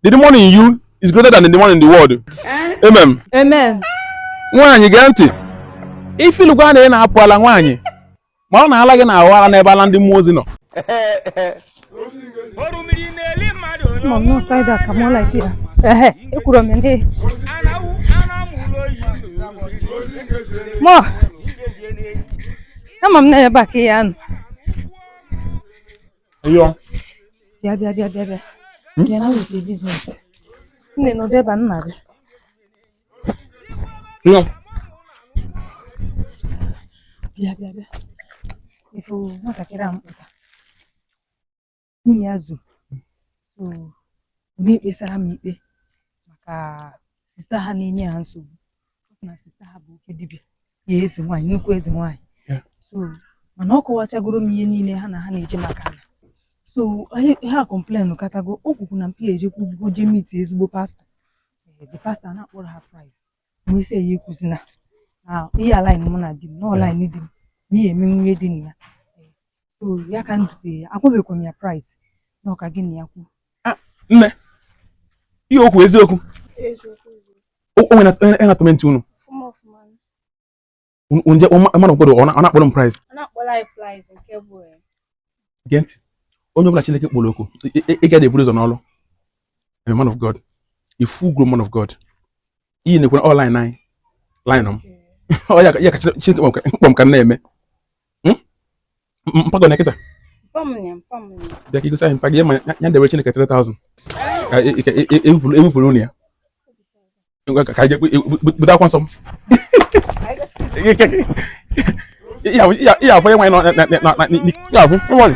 The demon in you is greater than the demon in the world. Eh? Amen. Amen. Nwaanyị gee ntị. Ị fụlụkwa na ị na-apụ ala nwaanyị. Ma a na-ala gị na-awa ala n'ebe ala ndị mmụọ ozi nọ. Mom, no side that. Come on, like here. Eh, ekwuru m ndị. Mọ, ama m na ebe a ka ya nọ. Yo. Bịa bịa bịa bịa bịa. Hmm? Bịa na wete business. Nne nọ ebe a nna bịa. Yo. Bịa bịa bịa. Ị fụ nwatakịrị a m kpụta. Nwunye ya zuru. So, onye kpesara m ikpe maka sista ha na-enye ha nsogbu. na sista ha bụ oke dibịa ya eze nwaanyị nnukwu eze nwaanyị so mana ọ kọwachagoro m ihe niile ha na ha na-eje maka ala so ha complain katago o kwukwu na mpi ejekwu ugwugo jee miti ezigbo pastọ eh, the pastọ na-akpọrọ ha price mgbe isi eyi ekwuzi na ihe alain mụ na di m na ọlain di m n'ihi eme nwunye di na ya eh, so ya ka m dutere ya agwabeghịkwa m ya price na ọ ka gị na ya kwuo ah, nne ihe o kwu eziokwu o nwe na-atọmentị unu m je man of God ọ na-akpọrọ m price gee ntị onye ọbụla Chineke kpọrọ oku ị gaghị eburu ụzọ n'ọrụ a man of God a full grown man of God iyi na-ekwe online anyị line m ọ ya ka Chineke kpọ m ka m na-eme hmm? mpago na kịta bịa ka igosi anyị mpa gị ma ya debe chineke 3000 ka ewepụrụ unu ya ka anyị bute akwa nsọ m ya afọ ya nwanyị ya afọ nwanyị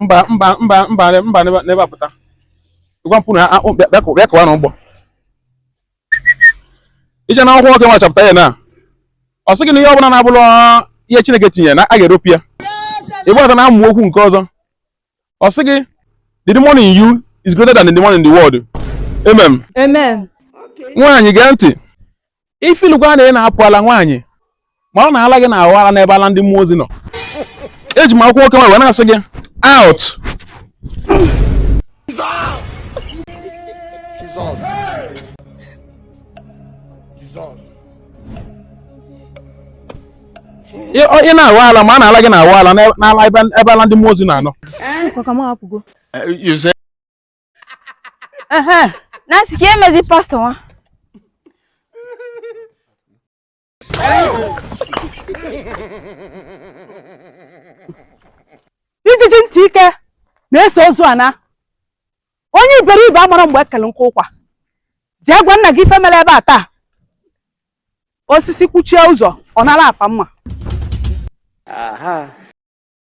mba mba mba mba mba n'ebe apụta gwa mpụ na bịa kụwa na ụgbọ ị je n'akwụkwọ nwoke nwa chapter ya na ọ sị gị na ihe ọbụla na-abụrọ ihe Chineke tinyere na a ga-eropu ya ị bata n'amaokwu nke ọzọ ọ sị gị the demon in you is greater than the demon in the world amen amen nwaanyị gee ntị ị fụlụkwa na ị na-apụ ala nwaanyị ma a na-ala gị na-awa ala n'ebe ala ndị mmụọ ozi nọ eji m akwụkwọ nwoke nwa wee na-asị gị out ị na-awa ala ma a na-ala gị na-awa ala n'ala ebe ala ndị mmụọ ozi na-anọ eh, Nancy ka emezi pastọ nwa ijiji ntị ike na-eso ozu ana onye iberibe amarọ mgbe e kelu nkụ ụkwa jee gwa nna gị ife mere ebe a taa osisi kwụchie ụzọ ọ nara apa mma